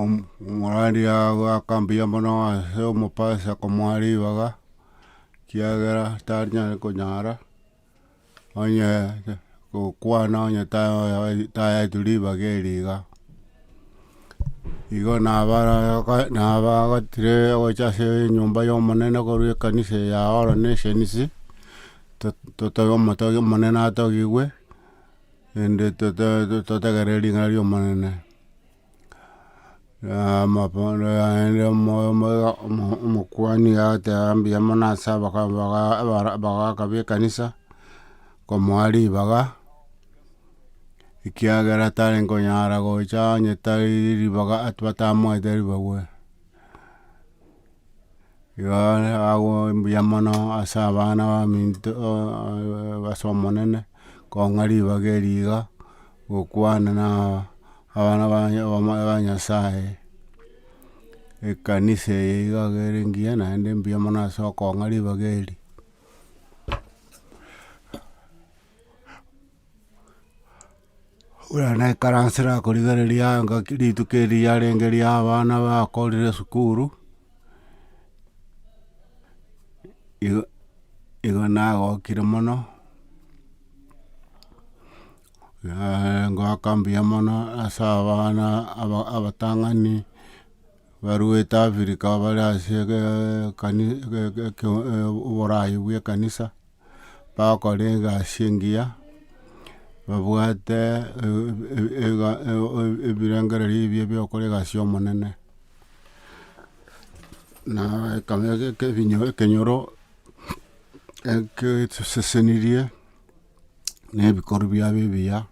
omorwandi agoaka mbuya mono ase omopasa komoa ribaga, ekiagera tanyare konyara, onye gokwana onye tayae tayaetwa ribaga eri iga. Igo naba naba agatire gocha ase enyomba ya omonene korwa ekanisa eye ya Holy Nations, to- totobe omotobe omonene atogigwe. Rende tote totegerere ring'ana ri'omonene, amabondo yaende omoyo omoyo omokuani yateba mbuya mono ase abaka baga abara abagaka b'ekanisa, komoa ribaga, ekiagera tari konyara gocha onye tari ribaga at batamoete ribagwe. agwo mbuya mono ase abana baminto ase omonene, kong'a ribaga eri iga, gokwana na abana ba Nyasaye, ekanisa eye iga iga ere engiya naende mbuya mono ase okong'a ribaga eri. buna naikaransire akorigereria aya ngaki rituko eri riarenge ria abana bakorire esukuru, igo igo nagokire mono, ngoaka mbuya mono ase abana aba abatang'ani barwete africa bare ase ekanisa oborayi bwa ekanisa. bagokora egasi engiya, babwate ebirengereri ebiya bia gokora egasi y'omonene. Na ekaba ekenyoro egesesenirie na ebikoru biabo ebiya.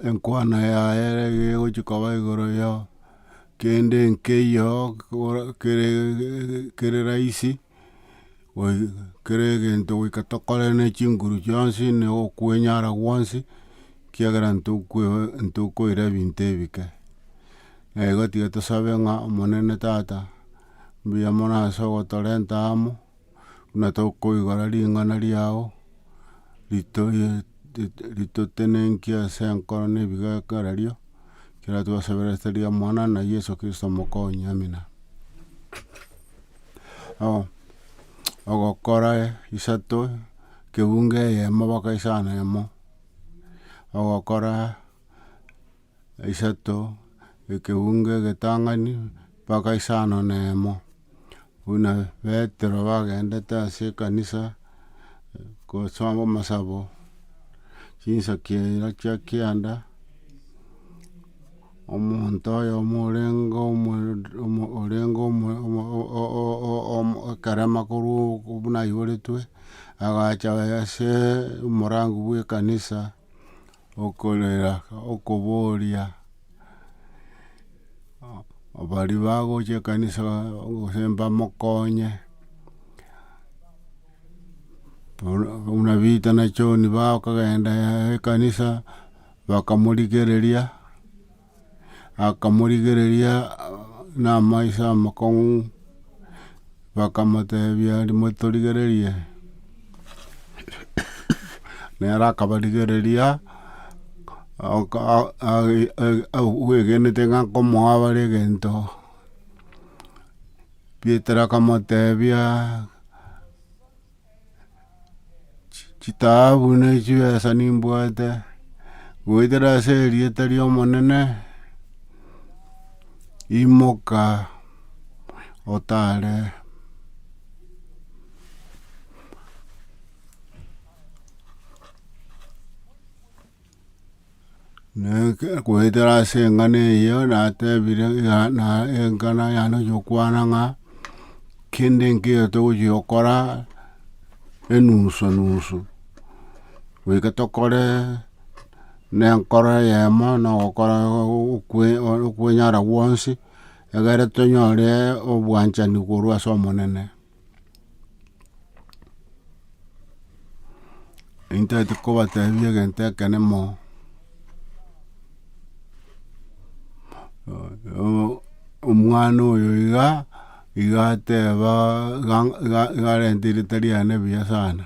enkwana yaye egochi koba igoro yo kende nkeiyo kere raisi. kera egento goika tokorene chinguru chionsi na ogokwenyara gwonsi, ekiagera ntokwe ntokoira ebinto ebike. Na igo tiga tosabe ng'a Omonene Tata, mbuya mono ase ogotorenta amo, buna tokoigora ring'ana riao, rito ritotenenkie ase enkoro na ebibe kerario, ekero twasaberete ria Omwana na Yeso Kristo Omokonyi, amina. ogokora isato, ekegungo eyemo mpaka isano eyemo, ogokora isato, ekegungo egetang'ani mpaka isano na eyemo, buna petero bagendete ase ekanisa gosoma amasabo, chinsa kiira chia kianda. Omonto oyomo orenge orenge ekerema korwa buna aiboretwe, agacha ase omorango bw'ekanisa, okorera, okoboria, baria bagocha ekanisa gose mbamokonye, buna Peter na John bakagenda ekanisa. Bakamorigereria, akamorigereria namaiso amakong'u, bakamotebia arimwe torigererie, nere akabarigereria, bwegenete ng'a nkomoa bare egento, Petero akamotebia. chitaabu ne chibesa nimbwate, goetera ase erieta ri'omonene, imoka otare Goetera ase eng'ana eyio natebire eng'ana yane yokwana ng'a kende nkeiyo togochia gokora enusu nusu goika tokore ne enkoro eyemo na ogokora okwenyara gwonsi egere tonyore obwanchani korwa ase omonene. Intagete kobatebia egento ekenemo, omwana oyo iga, iga ateba iga arenta erieta riane buya sana.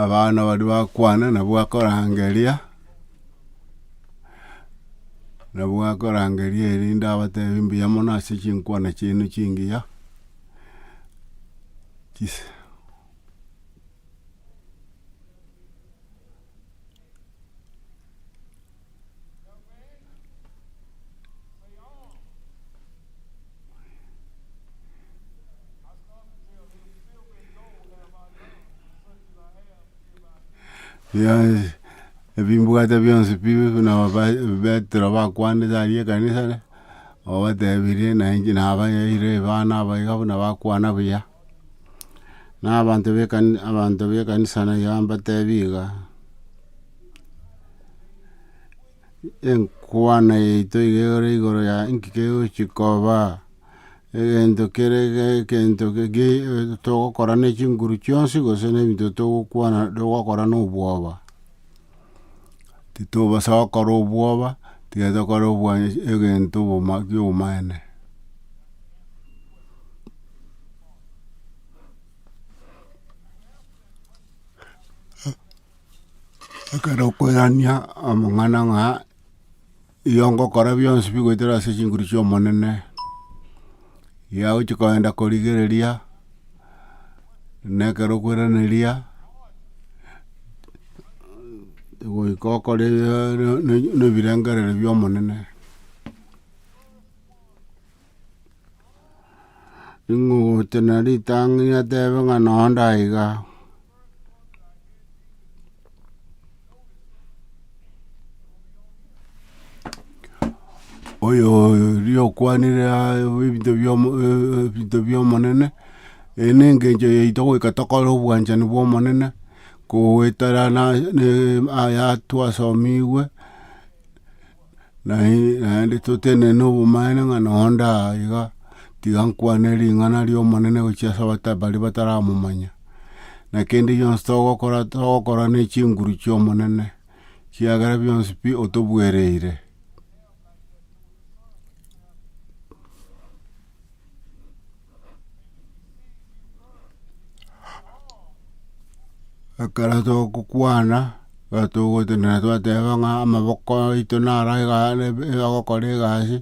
abana baria bakwana nabwo akorangeria, nabwo akorangeria erinde abatebi mbuya mono ase chinkwana chiaino chingiya, chise Bionsi, ebi mbwate bionsi pi buna ba Petero bakwanete aria ekanisa, obatebirie nainche nabayaire ebana aba iga buna bakwana buya. Na abanto be ekanisa abanto be ekanisa naye mbatebie iga, enkwana yaito iga egere igoro ya nki kegochia koba, egento kere egento togokora ne chinguru chionsi gose ne ebinto togokwana togokora na obwoba. titobaasa gokora obwoba, tiga tokore egento ki'obomaene. ekero okoirania amang'ana ng'a. Ebio ngokora bionsi bigoetera ase chinguru chi'Omonene, yagochia kogenda korigereria, nekero okweraneria, goika okore nebirengereri bi'Omonene. Ring'ogochana ritang'ani atebe ng'a noo ndaiga. Oyo riria okwanire aye ebinto bia omo- e- ebinto bia omonene, eye ne engencho yaito goika tokore obwanchani bwa omonene, kogoetera na- na- aya twasomigwe. Naende totenene obomaene ng'a nonya onde aa iga tiga nkwane ring'ana ri'Omonene gochia ase baria bataramomanya. Na kende gionsi togokora, togokora ne chinguru chi'Omonene, ekiagera bionsi pi otobwereire. ekero togokwana, ekero togotenena twateba ng'a amaboko aito naro iga are agokora egasi,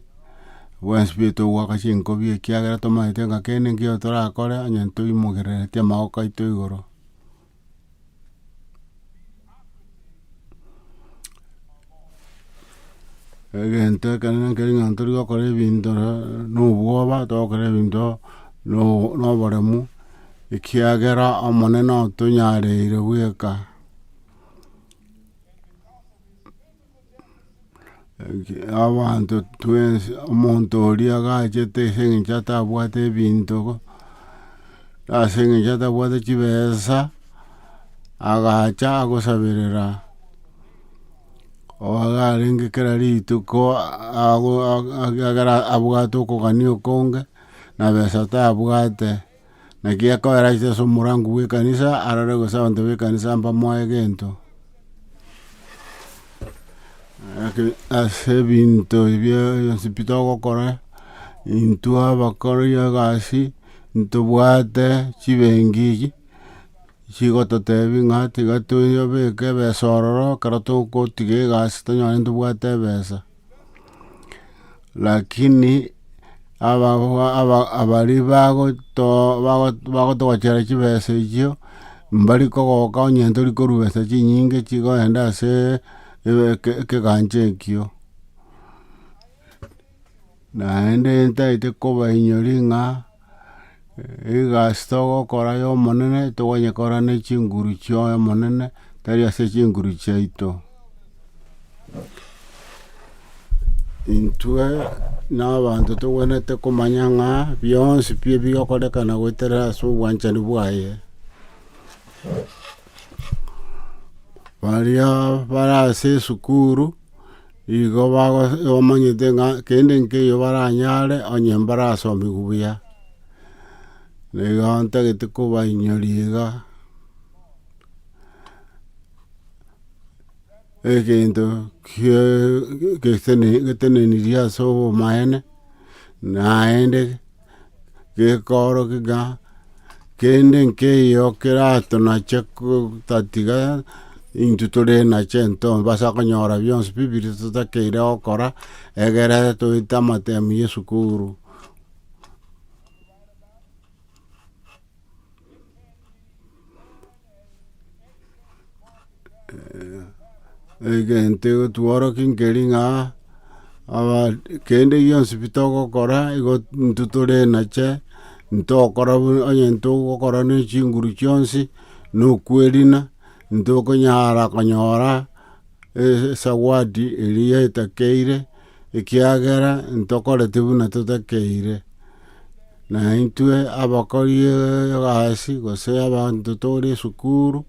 bwensi pi togoaka chinkobi ekiagera tomanyete ng'a kende nkio torakore, onye toimokerereti amaboko aito igoro. egento ekenene nkere ng'a ntori gokora ebinto na na obwoba, togokora ebinto no na oboremu, ekiagera Omonene otonyareire bweka. abanto twensi omonto oria agachete ase eng'encho atabwate ebinto igo, ase eng'encho atabwate chibesa, agacha agosaberera oyarenge kera rituko abwate okogania okonge na besa tabwate. Naki gekogera aise ase omorango bw'ekanisa arore gose abanto b'ekanisa mbamoe gento. Ase ebinto ebio bionsi pi togokora, intwe abakoroki egasi, ntobwate chibengi echi, chigototebia ng'a tiga toyobeke ebesa ororo ekero togotiga egasi tonyore ntobwate ebesa. Lakini abaria bagotogochera chibesa echio, mbari kogoka onye tori korwa besa chinyinge chigenda ase ekegancha ekio. Naende ntagete kobainyori ng'a. Egasi togokora y'Omonene, tokonyekora ne chinguru chi'Omonene, tari ase chinguru chiaito. Intwe na abanto togwenerete komanya ng'a bionsi pi ebigokorekana goetera ase obwanchani bwaye. Baria bare ase esukuru. Igo bamanyete ng'a kende nkeiyo baranyare onye mbarasomigwe buya. Na igo ntagete kobainyora iga, egento kie getenenirio ase obomaene, naende. gekoorokia, kende nkeiyo keratonache gotatiga intwe tore nache entomo base okonyora bionsi pi biri totakeire gokora, egere toete amatemu y'esukuru. egento egotworokia nkeri ng'a aba kende gionsi pi togokora igo intwe tore enache, ntokora bu onye ntogokora na echinguru chionsi, na okwerina, intwe okonyara konyora esawadi eria etakeire. ekiagera intokoreti buna totakeire, naintwe abakori egasi gose abanto tore esukuru,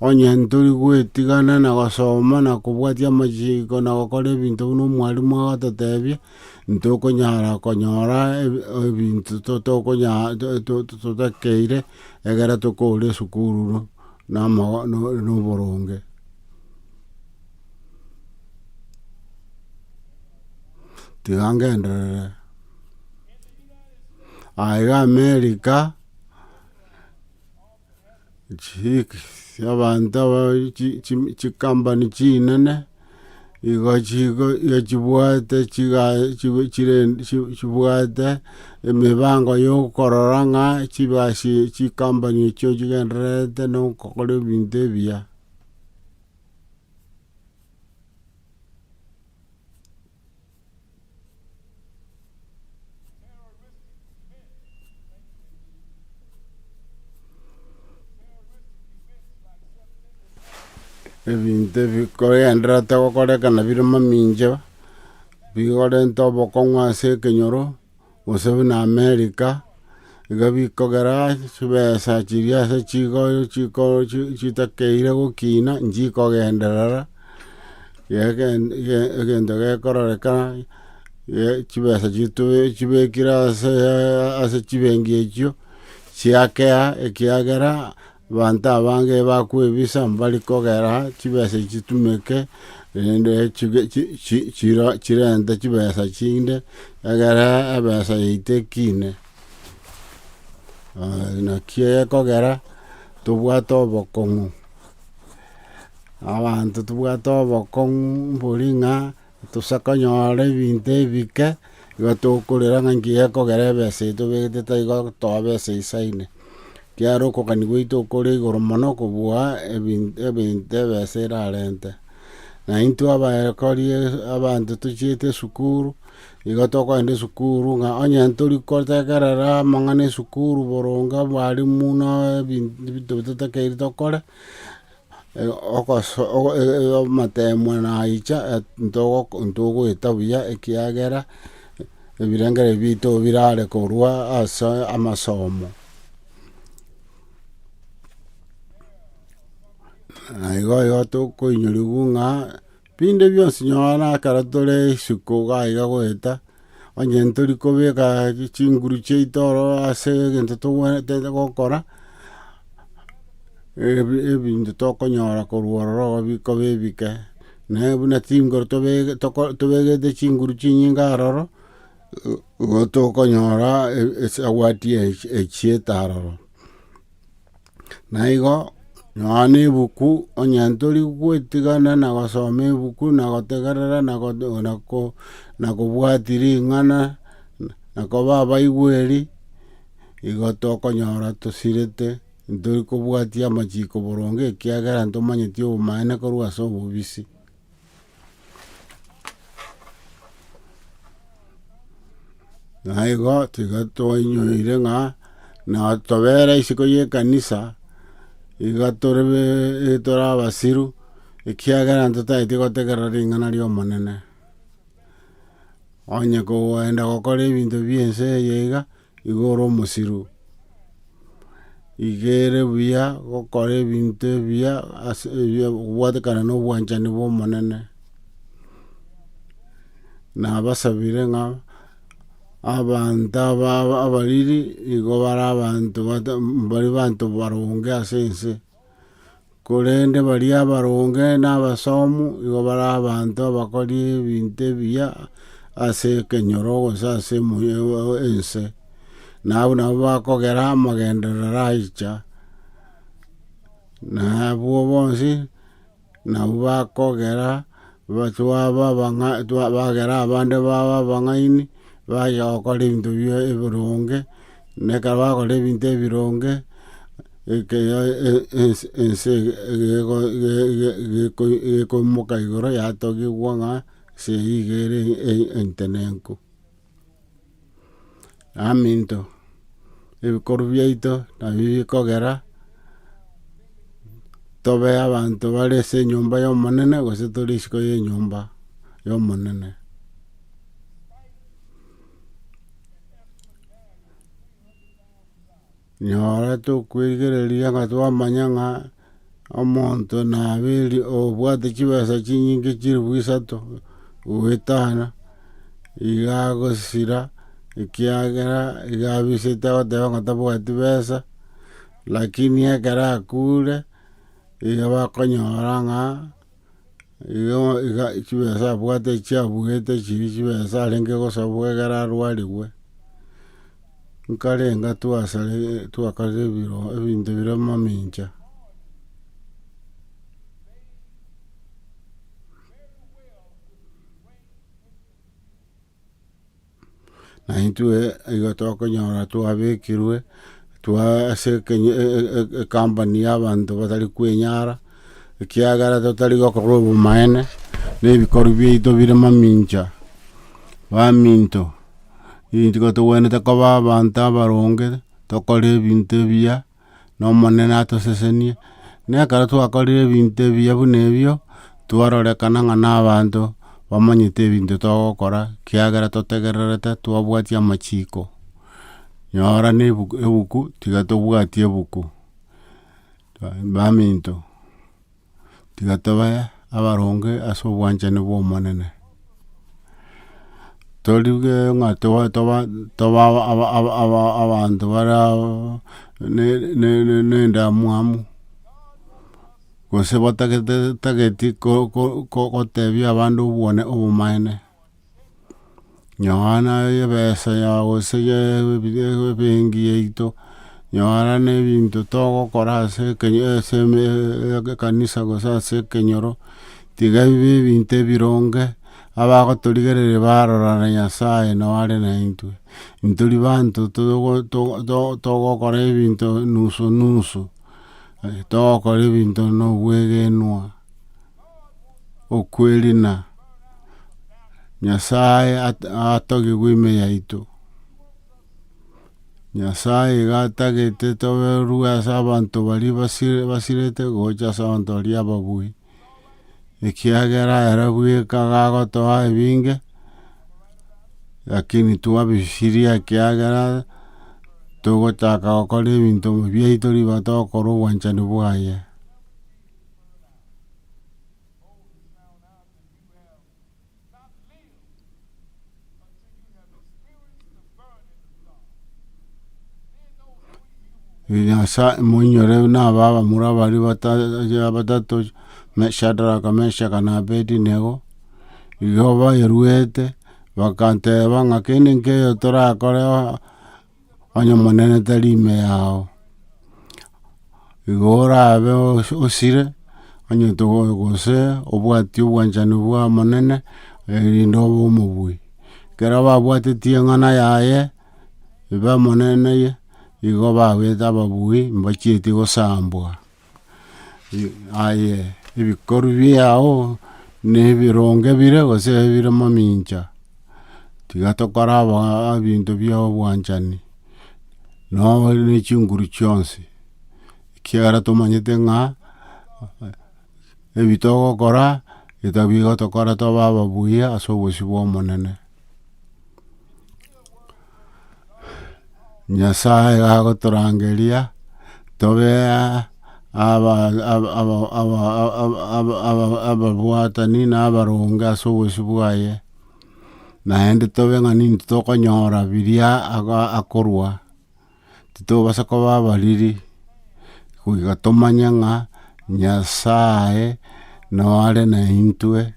onye ntori goetigana na gosoma na kobwatia amachiko na gokora ebinto buna omwalimu agototebia, intokonyara konyora ebi- ebinto totokonya totakeire egere tokore esukuru na amago na oboronge. tiga ngenderere, aya iga america, chifiki chia abanto abayi chi- chi- chikambani chinene, igo chigo igo chibwate chiga chigo chire chi- chibwate emibango ya okorora ng'a chibasi chikambani echio chigendererete na okokora ebinto ebiya. Ebinto ebikogendererete gokoreka nabire mamincha, bigorente obokong'u ase ekenyoro. gose buna Amerika, iga bikogera chibesa chiria ase chitakeire gokina nchikogenderera, egento gekororekana chibesa chiria chibekire ase chibengi echio chiakea ekiagera. Abanto abange bakwebisa mbari kogera chibesa echi chitumeke, rende chirente chibesa chinde, egere ebesa yaito ekine. Naki egekogera tobwate obokong'u. Abanto tobwate obokong'u mbori ng'a. Tosa konyora ebinto ebike, igo tokorera ng'a inki gekogera ebesa eye tobegete tari gotoa besa isaine. Ekiagera okogania gwaito kore igoro mono kobua ebinto ebesa erarente. Na intwe abakori abanto tochiete esukuru, igo tokogenda esukuru ng'a onye ntori kotegerera amang'ana esukuru boronge abalimu na ebinto ebinto ebio totakeire tokore. Amateemwa naicha, ntogoeta buya, ekiagera ebirengererio biaito birare korwa ase amasomo. Naigo igo tokoinyoriwu ng'a. Binde bionsi Yohana akera tore isiko gaiga goeta, onye ntori kobeka chinguru chiaito ororo ase egento togwenerete gokora, ebi- ebinto tokonyora korwa ororo iga bikoba ebike. Na buna chinguru tobege toko tobegete chinguru chinyinge aroro, igo tokonyora esegwati echi echieta aroro. Na igo noana ebuku, onye tori gwetigana na gosoma ebuku, na gotegerera, na kobwati ring'ana, na koba abaigweri, igo tokonyora tosirete, ntori kobwatia amachiko boronge ekiagera ntomanyeti obomaene korwa ase obobisi. Na igo tiga twainyoire ng'a na tobeera isiko y'ekanisa, iga tore tore abasiru, ekiagera ntataeti gotegerera ring'ana ri'Omonene. Onye kogenda gokora ebinto bi'ense eye iga. Igo ore omosiru, igere buya gokora ebinto ebiya ase obwatekane na obwanchani bwa Omonene. Nabasabire ng'a abanto aba abariri igo bare abanto bata mbari abanto baronge ase ense. Korende baria abaronge na abasomu nigo bare abanto abakori ebinto ebiya ase ekenyoro gose ase ense, na abwo nabwo bakogera amagenderero aicha, na abwo bonsi. nabwo bakogera twaba bagera abande babo abang'aini, bachia gokora ebinto bie ebironge, na ekero bakora ebinto ebironge, ekeyo ense ense egego geko gekoimoka igoro yatogigwa ng'a ase eyio iga ere entenenku. Naminto, ebikorwa biaito nabi bikogera tobe abanto bare ase enyomba y'Omonene gose tore isiko y'enyomba y'Omonene. Nyora tokwerigereria ng'a twamanya ng'a. Omonto nabe obwate chibesa chinyinge chilifu isato, goetana, iga agosira, ekiagera iga abisete agoteba ng'a tabwati besa, lakini ekero akure, iga bakonyora ng'a. Igo iga chibesa abwate chiabuete chiria chibesa arenge gosabwa ekero arwarigwe, nkarenga twasare twakare ebiro ebinto bire mamincha. Na intwe igo tokonyora twabekirwe twa ase ekenye- e- e- e- ekampani y'abanto batari kwenyara, ekiagera totari gokora obomaene, na ebikori biaito bire mamincha, baminto, nigo togwenerete koba abanto abaronge, tokore ebinto ebiya. n'Omonene atosesenie, na ekero twakorire ebinto ebiya buna ebio, twarorekana ng'a nabanto bamanyete ebinto togokora, ekiagera totegererete, twabwati amachiko. Nyora na ebuku, ebuku, tiga tobwati ebuku, baminto. tiga tobe abaronge ase obwanchani bw'Omonene. Torigie ng'a toba toba toba aba- aba- aba- abanto bara ne ne ne endamwamu, gose batagete tageti ko- ko- kotebia abande obwane obomaene. Nyowana ebesa yao gose ebenki yaito, nyowana ne ebinto togokora ase ekanisa gose ase ekenyoro, tiga bibe ebinto ebironge, abagotorigereria barora na Nyasae nao are na intwe. Ntori banto togokora ebinto nusu nusu, togokora ebinto na obwegenwa. okwerina Nyasae at- atogigwe ime yaito. Nyasae iga atagete toberwe ase abanto baria base- basirete gocha ase abanto baria ababui, ekiagera ere bweka gagotoa ebinge, lakini twabisiria ekiagera togotaka gokora ebinto biaito ribato gokora obwanchani bwaye. Nyasae moinyore naba abamura baria bata- batato Me- Shadraka, Meshaka na Abedinego, igo bayeruete, bakanteba ng'a kende nkeiyo torakore oo. Onye Omonene tari ime yao, igo orabe osire, onye gose obwati obwanchani bwa Omonene, erinde obe omobui. Ekero babwateti eng'ana yaye, ebe amo neye, igo babete ababui, mbachieti gosambwa. Aye, ebikoru biao nebironge bire gose bire mamincha, tiga tokore ebinto bia obwanchani, nonya ne chinguru chionsi, ekiagera tomanyete ng'a ebi togokora nigo bigotokora tobe ababuya ase obosio bwa Omonene. Nyasae agotorangeria tobe ababwatani na abaronge ase obosio bwaye, naende tobe ng'a nintitokonyora biria akorua. titobasa koba abariri, goika tomanye ng'a Nyasae nore naintwe,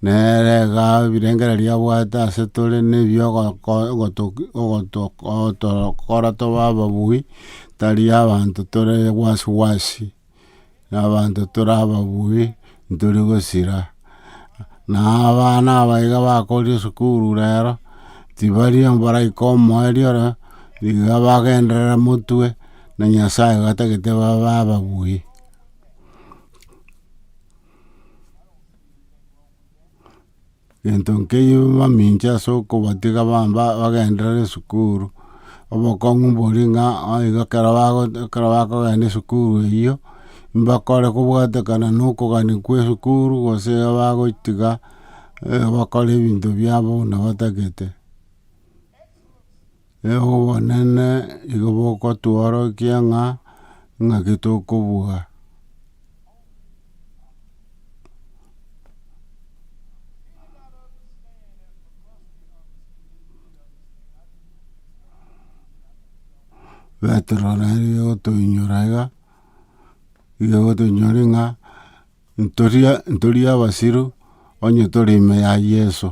nere iga ebirengererio abwate ase tore nebi ogotokora tobe ababui, tari abanto tore wasi wasi. na abanto tore ababui ntori gosira, na abana aba iga bakoire esukuru rero, tibari abaraika omoerio ore, iga bagenderera motwe, na Nyasaye iga atagete babe ababui. Gento nkeiyo baminche ase okobatiga bamba bagenderere esukuru, obokong'u mbori ng'a aiga ekero bago ekero bakogenda esukuru eyio, mbakore kobwatekana na okogania kwa esukuru gose bagotiga bakore ebinto biabo buna batagete. Obonene nigo bogotworokia ng'a ng'aki tokobua. Petero nere otoinyora iga, igo otoinyori ng'a. Ntori abasiru, onye tore ime ya Yeso,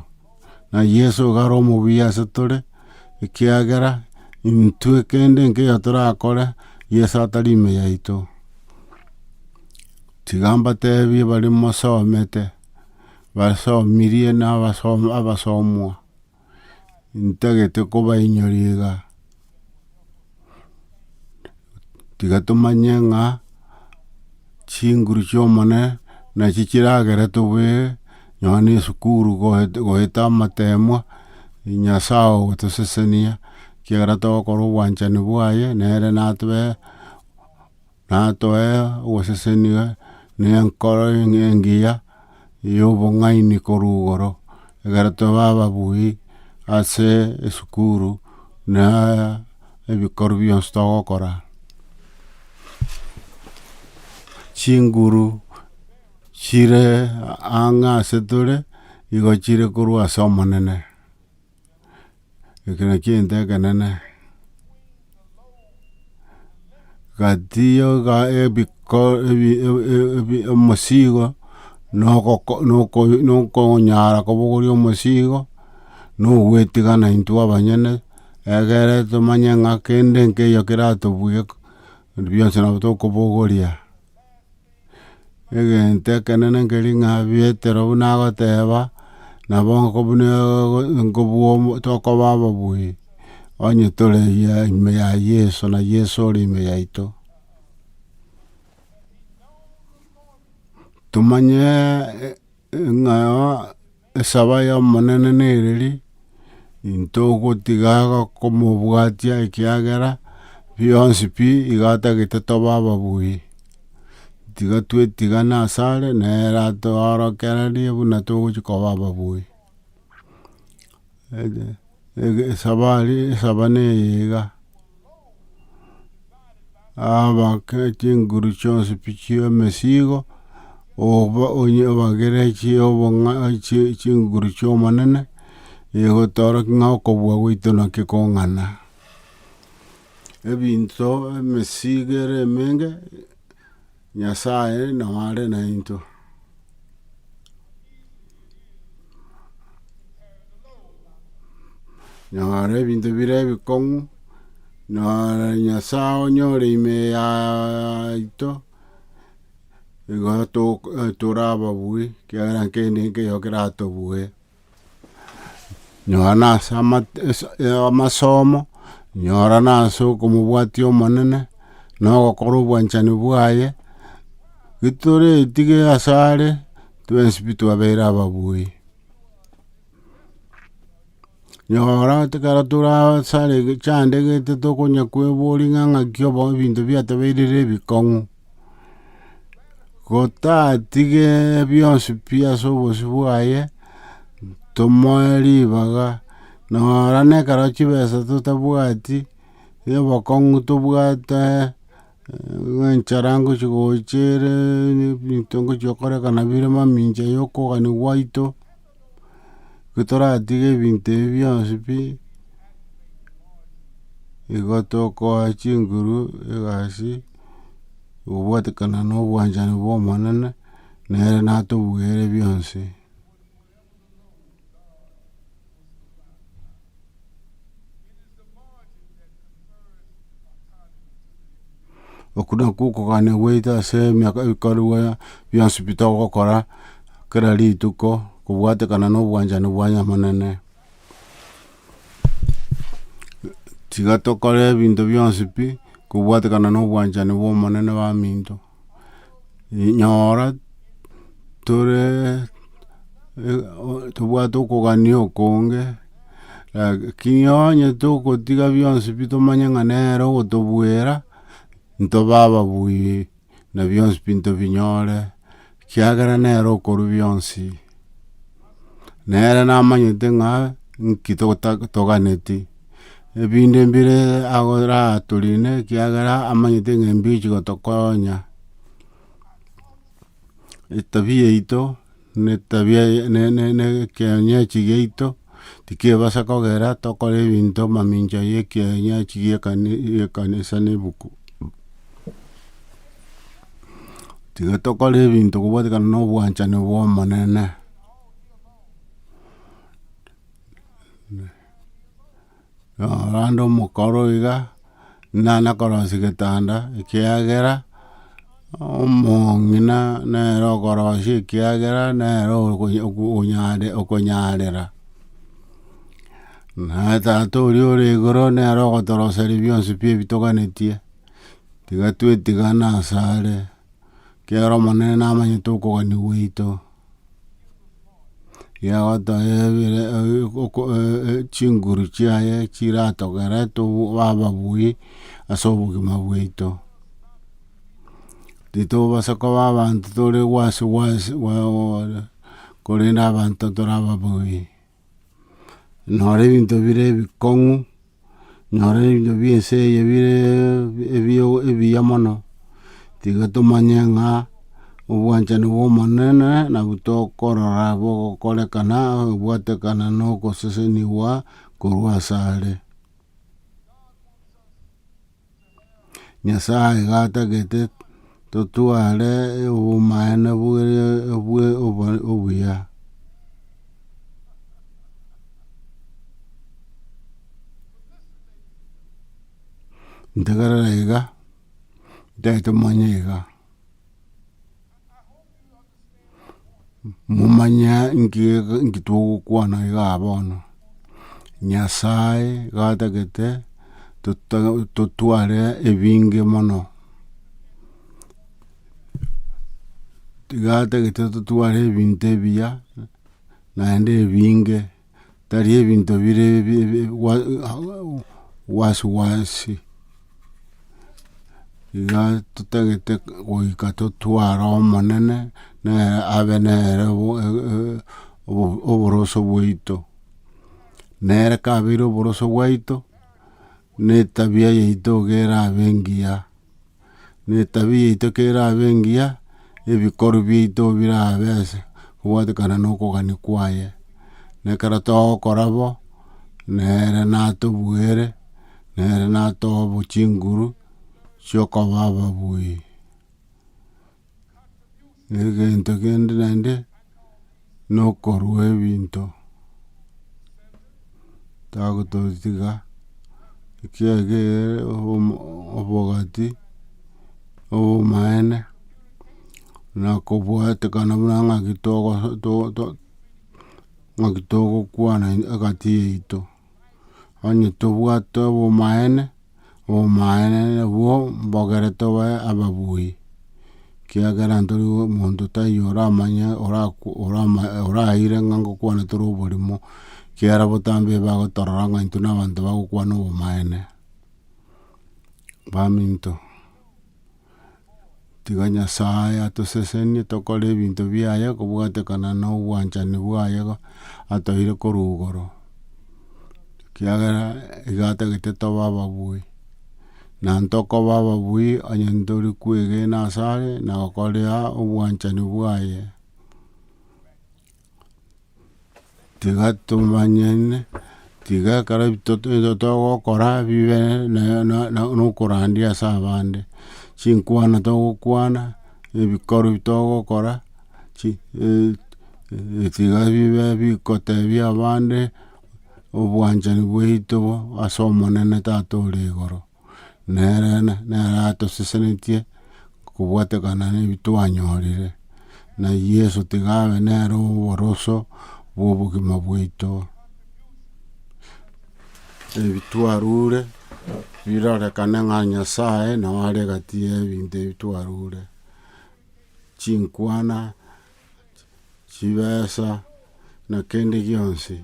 na Yeso iga are omobuya ase tore, ekiagera intwe kende nkeiyo torakore, Yeso atari ime yaito. Tiga mbatebie bare mosomete, basomirie na abasomwa, intagete kobainyora iga, tiga tomanye ng'a chinguru chia omonene nachi chiragere tobee nonya ne esukuru goeta amatemwa, Nyasaye ogotosesenia ekiagera togokora obwanchani bwaye nere natobee. natoe ogoseseniwa nenkoro engiya y'obong'aini korwa igoro, ekero tobe ababuyi ase esukuru na ebikorwa bionsi togokora. Chinguru chire ang'e ase tore, nigo chire korwa ase Omonene. Eke nakio egento ekenene. Gati ya omosigo na okonyara kobogoria omosigo, na ogwetigana intwe abanyene, egere tomanye ng'a kende nkeiyo keratobuye, bionsi nabo tokobogoria. egento ekenene nkeri ng'a bietero buna agoteba, nabo kobuna nkobua omo tokoba ababui, onye tore iyia ime ya Yeso na Yeso ore ime yaito. Tomanye Ng'a esaba y'Omonene nereri, intogotiga komobwatia, ekiagera bionsi pi iga atagete tobe ababuyi. Tiga twetigane asare, nere atoorokererie buna togochia koba ababuyi. Esabari esaba neyeiga, abake chinguru chionsi pi chiemesigo, oba onye obagere chie obong'a chie chinguru chi'omonene, egotore ng'a okobua gwaito naki kong'ana. Ebinto emesigo ere emenge. Nyasae nao are naintwe. Nyora ebinto bire ebikong'u, nyora Nyasae onyore ime yaito, igo to- toraba buya, ekiagera kende nkeyo keratobue. Nyora nase amasomo, nyora nase okomobwatia Omonene, na ogokora obwanchani bwaye, getore etige ase are, twensi pi twabeire ababuyi. Nyora ekero tore ase are chandegete tokonya kweboria ng'a ng'aki obo ebinto biatabeirire ebikong'u. gotatige bionsi pi ase obosio bwaye, tomoe ribaga, nora nekero chibesa totabwati, na obokong'u tobwate, buna enchara ngochia gocha ere, ebinto ngochia koreka nabio ere mamincha ya okogania gwaito, ki toratige ebinto ebi bionsi pi, igo tokoa chinguru egasi. obwatekana na obwanchani bw'Omonene, nere natobuere bionsi. Okwo nakwo okogania gwaito ase emiaka ekorwa bionsi bi togokora kera rituko kobwatekana na obwanchani bwa Nyamonene. Tiga tokore ebinto bionsi pi kobwatekana nobwanchani bw'Omonene baminto. Inyora tore tobwate okogania okonge, lakini onye togotiga bionsi pi tomanye ng'a nere ogotobwera, ntobe ababuyi. na bionsi pi ntobinyore, ekiagera nere okorua bionsi. Nere namanyete ng'a nki tota toganeti, ebinde mbire agoratorine ekiagera amanyete ng'a ebi chigotokonya. Etabia yaito Netabia nekeonyechi giaito tikebasa kogera tokore ebinto mamincha yekeonyechi gi'ekanisa na ebuku. Tiga tokore ebinto kobwatekana na obwanchani bw'Omonene. Norande omokoro iga, nana korosia getanda, ekiagera omong'ina nere okorosia ekiagera nere okonyare okonyarera. Naye tata oria ore igoro nere ogotoroseria bionsi pi ebitoganetie, tiga twetigana asare, ekiagera Omonene namanyete okogania gwaito. Giagotoebire chinguru chiaye chiratogere tobe ababui ase obogima bwaito. Titobasa koba abanto tore wasi wasi korende abanto tore ababui. Nyore ebinto bire ebikong'u, nyore ebinto bie ense eye bire ebio ebiya mono, tiga tomanye ng'a obwanchani bwa Omonene nabi tokorora bogokorekana obwatekana na ogosesenigwa korwa asare. Nyasae iga atagete totware obomaene bwe obuya. Ntegerera iga, ntaete monyega. Momanye nki togokwana igaa bono, Nyasae gatagete totware ebinge mono, iga atagete totware ebinto ebiya naende ebinge. tari ebinto bire wasi wasi, iga totagete goika totware omonene nere abe nere oboroso bwaito, nere kabeire oboroso bwaito, Netabia yaito gerabe engiya, netabia yaito kerabe engiya, nebikorwa biaito birabe ase gobwatekana na okogania kwaye, nekero togokora bo, nere natobuere, nere natoa bo chinguru chiokoba ababuyi. Na egento kende naende, na okorua ebinto, tagototiga, ekiagera ekere obomo obogati, obomaene, na kobwatekana buna ng'aki togo to- to ng'aki togokwana egati yaito. Onye tobwate obomaene, obomaene nabwo mbogere tobe ababui, kiagera ntori omonto taiyo oramanya oraku orama oraire ng'a ngokwane tore oborimo, kiagera botambe ebagotorora ng'a intwe nabanto bagokwana obomaene, baminto. Tiga Nyasae atosesenie tokore ebinto biaye kobwatekana nobwanchani bwaye igo atoeire korwa igoro, ekiagera igo atagete tobe ababui, na ntokoba ababui onye ntori kwegena asare na gokorera obwanchani bwaye. Tiga tomanyene, tiga ekero ebito ebio togokora bibe na na na okorandia ase abande, chinkwana togokwana, ebikorwa bi togokora, chi tiga bibe bigotebia abande obwanchani bwaito ase Omonene Tata ore igoro. nere nere atosesenetie kobwatekana ne ebitwanyorire, na Yeso tiga abe nere oboroso bwa obogima bwaito. Ebi twarure birorekane ng'a Nyasaye nao are egati y'ebinto ebi twarure, chinkwana. chibesa, na kende gionsi,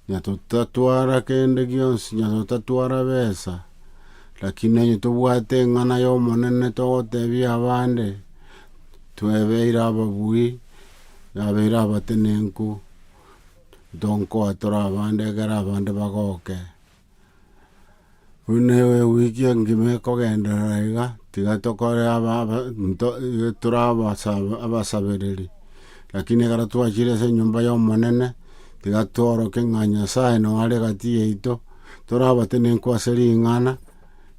na totatwara kende gionsi, na totatwara besa, lakini onye tobwate eng'ana y'Omonene togotebia abande, twebeire ababui, nabeire abatenenku, tonkoa tore abande ekero abande bagoke. Buna ewe ewiki engima ekogenderera iga, tiga tokore abanto iga tore abasabereri, rakini ekero twachire ase enyomba ya Omonene, tiga tworoke ng'a Nyasae noo are egati yaito, tore abatenenku ase ring'ana,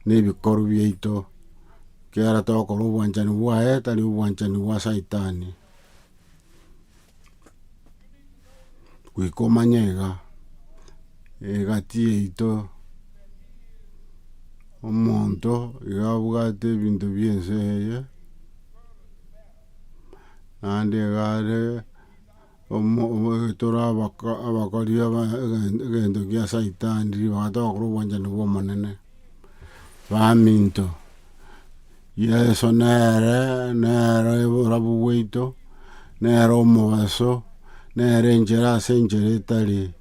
na ebikorwa biaito, ekiagera togokora obwanchani bwaye, tari obwanchani bwa saitani. goika omanye iga, egati yaito, omonto iga abwate ebinto bie ense eye, naende iga are omo omo tore abako abakori aba egen egento gia saitani, ribaga togokora obwanchani bwa Omonene, baminto. Yeso nere nere oborabu bwaito, nere omobaso, nere enchera ase enchera etari,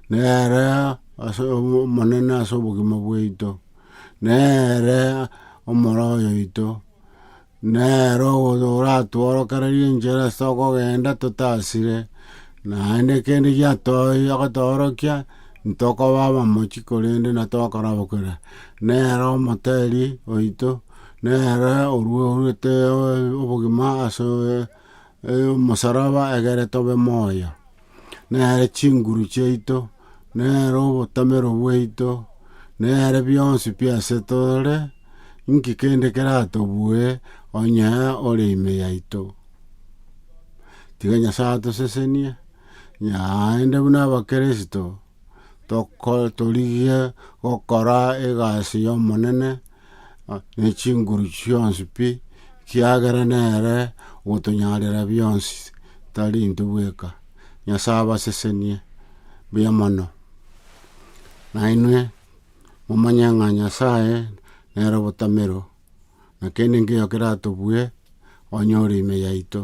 nere ase omonene ase obogima bwaito, nere omorogi oito, nere oratworokereria enchera ase tokogenda totasire, Naende kende giatoorokia, ntitokoba abamochi korende natogokora-bokera, nere omoteri oito, nere orwegete obogima ase omosaraba egere tobe moyo, nere chinguru chiaito. nere obotamero bwaito, nere bionsi piaase tore, inki kende keratobue onye ore ime yaito? Tiga Nyasae atosesenie, naende buna abakirisito, toko torigie gokora egasi y'Omonene. ne chinguru chionsi pi, ekiagera nere ogotonyaarera bionsi, tari intwe bweka. Nyasae abasesenie buya mono. Nainwe momanye ng'a Nyasae nere obotamero, na kende nkeiyo keratobue, onyore ime yaito.